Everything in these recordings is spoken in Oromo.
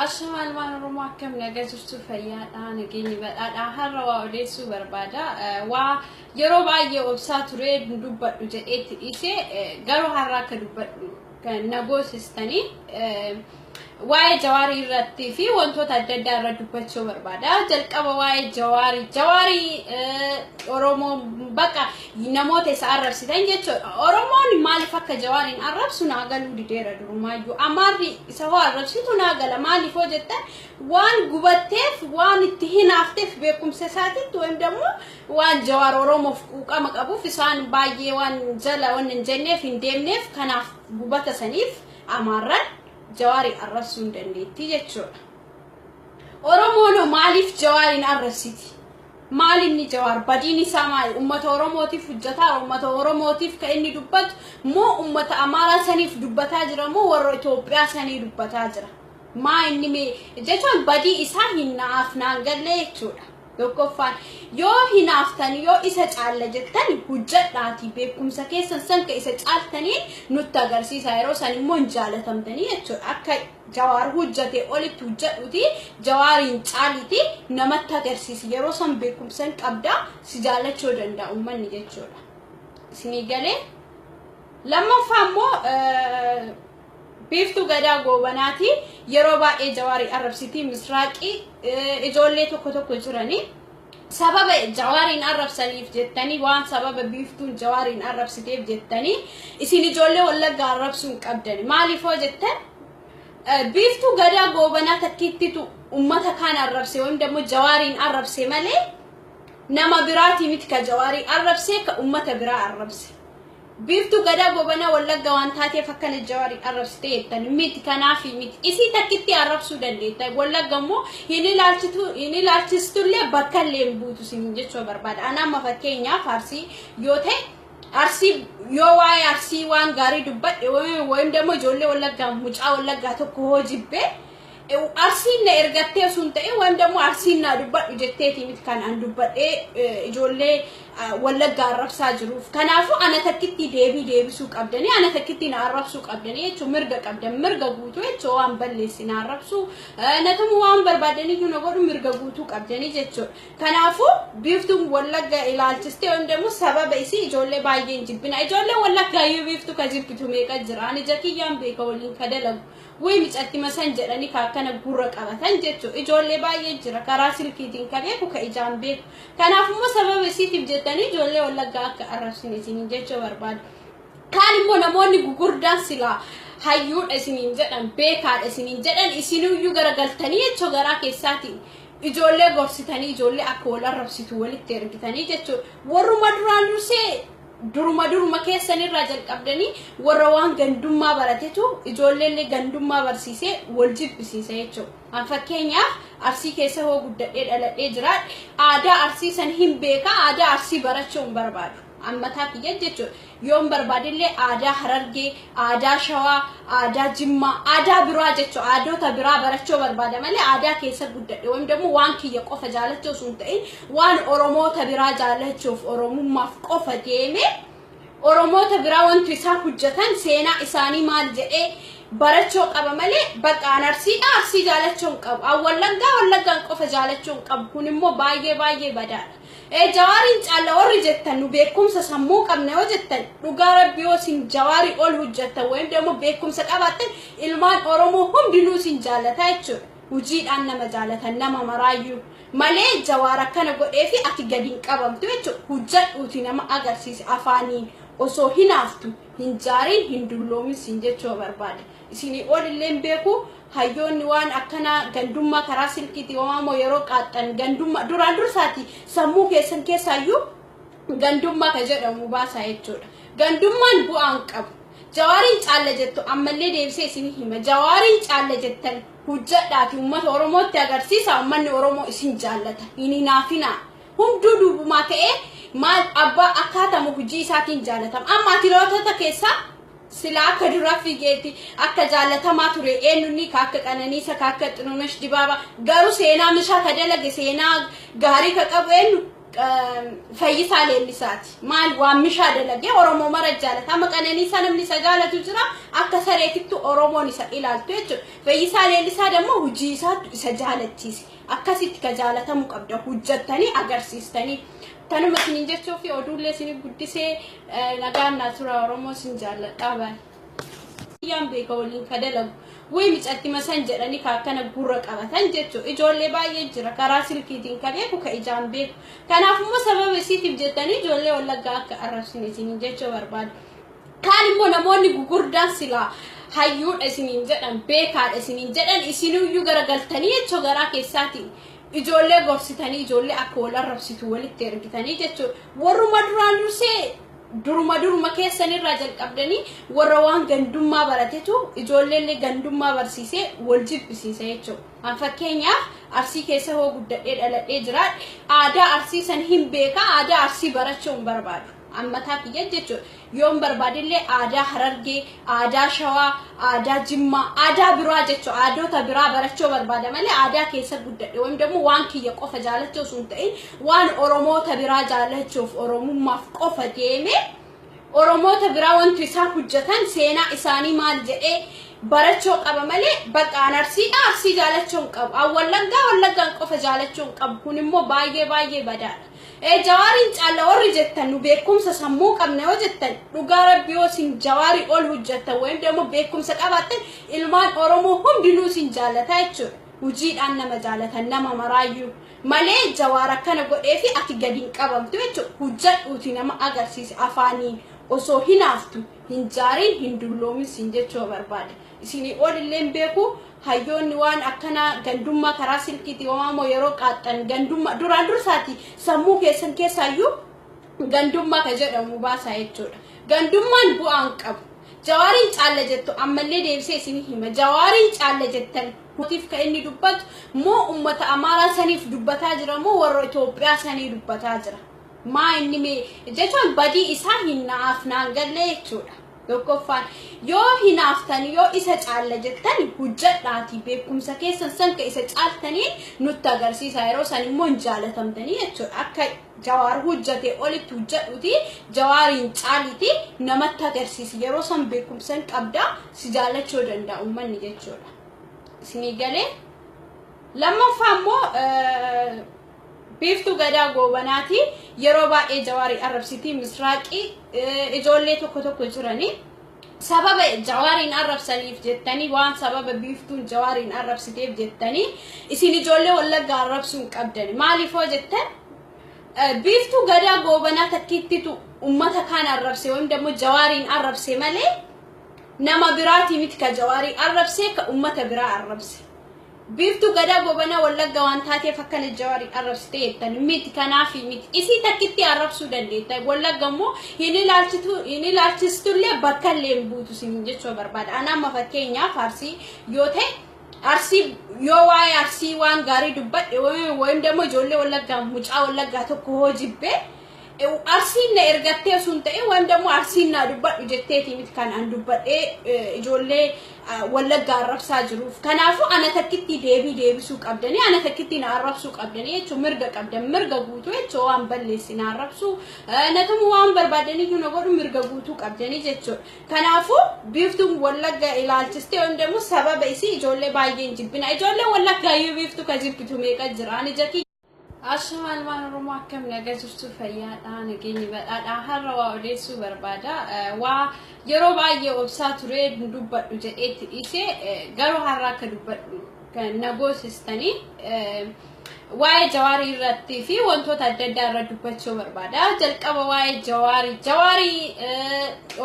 Ashama ilmaan Oromoo akkam nagaa jirtu fayyaadha nageenyi badhaadha har'a waa odeessuu barbaada waa yeroo baay'ee obsaa turee dubbadhu jedheetti dhiise garuu har'a akka dubbadhu kan na goosistanii waa'ee jawaarii irratti fi wantoota adda addaa irra dubbachuu barbaada jalqaba waa'ee jawaarii jawaarii Oromoo bakka namoota isa arrabsitan jechuudha. Oromoon maaliif akka Jawaariin arrabsu naa galuu dideera durumaayyuu. Amaarri isa hoo arrabsitu naa gala maaliif hoo jettan waan gubatteef waan itti hinaafteef beekumsa isaatitti waan dammoo waan Jawaar Oromoof quuqama qabuuf isaan baay'ee waan jala waan hin jenneef hin deemneef kanaaf gubata saniif Amaarran Jawaarii arrabsuu hin dandeettii jechuudha. Oromoon maaliif Jawaariin arrabsiti? Maal inni Jawaar badiin isaa maali? Ummata Oromootiif hujjataara? Ummata Oromootiif ka inni dubbatu moo ummata Amaaraa saniif dubbataa jira moo warra Itoophiyaa sanii dubbataa jira? Maa inni mee jechaan badii isaa hin naaf naan gallee jechuudha. Tokkoffaan yoo hinaaftani yoo isa caalla jettani hujjadhaatii beekumsa keessan san ka isa caaltaniin nutti agarsiisaa yeroo san immoo hin jaalatamtanii jechuudha. Akka Jawaar hojjate olitti hojjadhuti jawaariin caaliti namatti agarsiisi yeroo san beekumsan qabda si jaallachuu danda'a ummanni jechuudha isinii galee lammaffaa immoo biiftuu gadaa goobanaati yeroo baay'ee jawaarii arrabsitii misraaqii ijoollee tokko tokko jiranii sababa jawaariin arrabsaniif jettanii waan sababa biiftuun jawaariin arrabsiteef jettanii isin ijoollee wallaggaa arrabsuu hin qabdani maaliif hoo jettan biiftuu gadaa goobanaa takkiittitu ummata kaan arrabse wayim dammo jawaariin arrabse malee nama biraatii miti ka jawaarii arrabse ka ummata biraa arrabse Biiftuu Gadaa Gobanaa Wallagga waan taateef akkana Jawaariin arrabsite jettan miti kanaafi miti. Isii takkittii arrabsuu dandeetta. Wallagga immoo hin ilaalchitu hin ilaalchistullee bakka illee hin buutu siin jechuu barbaada. Ana amma fakkeenyaaf Arsii yoo ta'e Arsii yoo waa'ee Arsii waan gaarii dubbadhe wayim dammoo ijoollee Wallaggaa mucaa Wallaggaa tokko hoo jibbee Arsiin na ergattee osoo hin ta'in waan dammoo arsiin naa dubbadhu jetteetii miti kan an dubbadhee ijoollee wallaggaa arrabsaa jiruuf. Kanaafuu ana takkittii deebii deebisuu qabdanii ana takkittii na arrabsuu qabdanii jechuun mirga qabdan mirga guutuu jechuun waan balleessi na arrabsuu natamu waan barbaadaniyyuu na godhu mirga guutuu qabdanii jechuudha. Kanaafuu biiftuun wallaggaa ilaalchistee waan dammoo sababa isii ijoollee baay'een jibbina. Ijoollee wallaggaa iyyuu biiftuu ka jibbitu meeqa jira ani jakiyyaan beeka waliin ka dalagu. Wly micattima san jedhani ka akkana gurra qabatan jechu ijoollee baay'ee jira karaa silkiitiin ka beeku ka ijaan beeku kanaaf immoo sababa isiitiif jettanii ijoollee wallaggaa akka arrabsine isiniin jechuu barbaada kaan immoo namoonni gugurdaan silaa hayyuudha isiniin jedhan beekaadha isiniin jedhan isiniyyuu garagaltanii jechuu garaa keessaatiin ijoollee gorsitanii ijoollee akka wal arrabsitu walitti ergitanii jechuudha warruma duraan dursee Duruma duruma keessan irraa jalqabdanii warra waan gandummaa baratetu ijoolleellee gandummaa barsiisee wal jibbisiisa jechuudha. An fakkeenyaaf Arsii keessa hoo guddadhee dhaladhee jiraadhe aadaa Arsii san hin beeka aadaa Arsii barachuu hin barbaadu. An mataa kiyya jechuudha. Yoon barbaadillee aadaa Harargee, aadaa Shawaa, aadaa Jimmaa, aadaa biraa jechuudha. Aadoota biraa barachuu barbaada malee aadaa keessa guddadhe wayim dammoo waan kiyya qofa jaalachuu osoo hin ta'in Waan Oromoota biraa jaalachuuf Oromummaaf qofa deemee Oromoota biraa wantu isaan hojjetan seenaa isaanii maal jedhee barachoo qaba malee bakka an arsiidha arsii jaalachuu hin qabu an wallaggaa wallaggaan qofa jaalachuu hin qabu kun immoo baay'ee baay'ee badaadha. Ee jawaariin caalla warri jettan nu beekumsa sammuu qabna yoo jettan dhugaa rabbi yoo isin jawaarii ol hojjettan wayim immoo beekumsa qabaattan ilmaan Oromoo hundinuu isin jaallata jechuudha. Hojiidhaan nama jaalatan nama maraayyuu. malee jawaar akkana godheefi ati gadi hin qabamtu jechuudha hujjadhuuti nama agarsiisi afaaniin osoo hinaaftu hin jaariin hin dulloomin siin jechuu barbaade isinii ol illee hin beeku hayyoonni waan akkana gandummaa karaa silkiitii waamoo yeroo qaaxxan gandummaa duraan dursaati sammuu keessan keessaayyuu gandummaa ka jedhamu baasaa jechuudha gandummaan bu'aan qabu jawaariin caalla jettu ammallee deebisee isinii hima jawaariin caalla jettan hujjadhaati ummata oromootti agarsiisa ummanni oromoo isin jaallata hin hinaafinaa hunduu duubumaa ta'ee maal abbaa akkaatama hujii isaatiin jaallatama amma ati lootota keessaa sila akka duraa fiigeetti akka jaallatamaa ture eenyunni ka akka qananiisa ka akka xinunash dibaaba garuu seenaa mishaa ka dalage seenaa gaarii ka qabu eenyu Fayyisaa Leellisaati. Maal waammishaa dalagee Oromoo mara jaalata. Amma qananiisaa namni isa jaalatu jira. Akka sareetittu Oromoon isa ilaaltu jechuudha. Fayyisaa Leellisaa dammoo hojii isaattu isa jaalachiise. Akkasitti ka jaalatamuu qabda. Hojjattanii agarsiistanii. Kanuma isiniin jechuufi oduullee isinii guddisee nagaan naa tura Oromoo isin jaalladhaa baay'ee. Kiyyaan beeka waliin ka dalagu. Way micatti masan jedhani ka akkana gurra qabatan jechu. Ijoollee baay'ee jira karaa silkiitiin ka beeku ka ijaan beeku. Kanaaf immoo sababa isiitiif jettanii ijoollee wallaggaa akka arrabsine isiniin jechuu barbaada. Kaan immoo namoonni gugurdaan silaa hayyuudha isiniin jedhan beekaadha isiniin jedhan isiniyyuu garagaltanii jechuu garaa keessaatiin ijoollee gorsitanii ijoollee akka wal arrabsitu walitti ergitanii jechuudha. Warruma duraan dursee Duruma duruma keessan irraa jalqabdanii warra waan gandummaa baratetu ijoolleellee gandummaa barsiisee wal jibbisiisa jechuudha. An fakkeenyaaf Arsii keessa hoo guddadhee dhaladhee jiraadhe aadaa Arsii san hin beeka aadaa Arsii barachuu hin barbaadu. An mataa kiyya jechuudha. Yoon barbaadellee aadaa Harargee aadaa shawaa, aadaa jimmaa, aadaa biraa jechu aadoota biraa barachoo barbaada malee aadaa keessa guddadhe wayim dammo waan kiyya qofa jaalachoo sun ta'in waan oromoota biraa jaalachuuf oromummaaf qofa deeme oromoota biraa wantu isaan hujjatan seenaa isaanii maal jedhee barachoo qaba malee bakka an arsiidha arsii jaalachoo hin qabu an wallaggaa wallaggaan qofa jaalachoo hin qabu kun immoo baay'ee baay'ee badaadha Ee jawaariin caalla warri jettan nu beekumsa sammuu qabna yoo jettan dhugaa rabbi yoo isin jawaarii ol hojjattan wayim dammoo beekumsa qabaattan ilmaan oromoo hundinuu isin jaalataa jechuudha hujiidhaan nama jaalatan nama maraayyuu malee jawaar akkana godhee fi ati gadi hin qabamtu jechuudha hujjadhuuti nama agarsiise afaaniin osoo hinaaftu hin jaariin hin dulloomin siin jechuu barbaade Isinii ol illee hin beeku. Hayyoonni waan akkanaa gandummaa karaa silkiitiin homaa moo yeroo qaaxxan gandummaa duraan dursaati sammuu keessan keessaayyuu gandummaa ka jedhamu baasaa jechuudha. Gandummaan bu'aa hin qabu. Jawaariin caalla jettu ammallee deebisee isinii hima. Jawaariin caalla jettan mootiif ka inni dubbatu moo ummata Amaaraa saniif dubbataa jira moo warra Itoophiyaa sanii dubbataa jira. Maa inni mee jechaan badii isaa hin naaf naan gallee jechuudha. Tokkoffaan yoo hinaaftan yoo isa caalla jettan hojjedhaatii beekumsa keessan san ka isa caaltanii nutti agarsiisa yeroo san immoo hin jaalatamtanii jechuudha akka jawaar hojjate olitti hojjedhuuti jawaariin caaliti namatti agarsiisi yeroo san beekumsa hin qabda si jaallachuu danda'a uummanni jechuudha isinii galee lammaffaa immoo Biiftuu Gadaa Goobanaati yeroo baay'ee Jawaari arrabsiti Misraaqi ijoollee tokko tokko jirani sababa Jawaariin arrabsaniif jettanii waan sababa Biiftuun Jawaariin arrabsiteef jettanii isin ijoollee Wallaggaa arrabsuu hin qabdani maaliifoo jettan Biiftuu Gadaa Goobanaa takkiittitu ummata kaan arrabse wayim dammoo Jawaariin arrabse malee nama biraatii miti ka Jawaarii arrabse ka ummata biraa arrabse Biiftuu Gadaa Goobana Wallagga waan taateef akkana Jawaariin arrabsite jettan miti kanaafi miti isii takkitti arrabsuu dandeetta Wallagga immoo hin ilaalchitu hin ilaalchistullee bakka illee hin buutu siin jechuu barbaada ana amma fakkeenyaaf arsii yoo ta'e arsii yoo waa'ee arsii waan gaarii dubbadhe wayim dammoo ijoollee Wallaggaa mucaa Wallaggaa tokko hoo jibbee Arsiin na ergattee osoo hin ta'in waan dammoo arsiin naa dubbadhu jetteetii miti kan an dubbadhee ijoollee wallaggaa arrabsaa jiruuf. Kanaafuu ana takkittii deebii deebisuu qabdanii ana takkittii na arrabsuu qabdanii jechuun mirga qabdan mirga guutuu jechuun waan balleessi na arrabsuu na tumuu waan barbaadaniyyuu na godhu mirga guutuu qabdanii jechuudha. Kanaafuu biiftuun wallaggaa ilaalchistee waan dammoo sababa isii ijoollee baay'een jibbina ijoollee wallaggaa iyyuu biiftuu ka jibbitu meeqa jira ani jakii. Ashama ilmaan Oromoo akkam naga jirtu fayyaadha nageenyi badhaadha har'a waa odeessuu barbaada waa yeroo baay'ee obsaa turee dubbadhu jedheetti dhiisee garuu har'a akka dubbadhu na goosistanii waa'ee jawaarii irratti fi wantoota adda addaa irra dubbachuu barbaada jalqaba waa'ee jawaarii jawaarii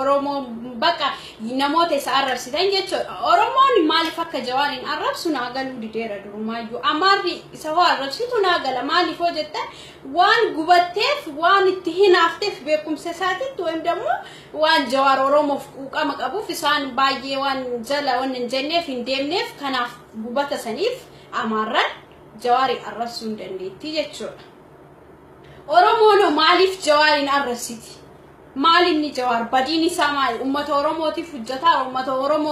Oromoo bakka namoota isa arrabsitan jechuudha. Oromoon maaliif akka jawaariin arrabsu naa galuu dideera durumaayyuu. Amaarri isa hoo arrabsitu naa gala maaliif hoo jettan waan gubatteef waan itti hinaafteef beekumsa isaatitti wayim dammoo waan jawaar Oromoof quuqama qabuuf isaan baay'ee waan jala waan hin jenneef hin deemneef kanaaf gubata saniif amaarran jawaari arrabsuu hin dandeettii jechuudha. Oromoon maaliif jawaariin arrabsiti? Maal inni Jawaar badiin isaa maali? Ummata Oromootiif hujjataa? Ummata Oromoo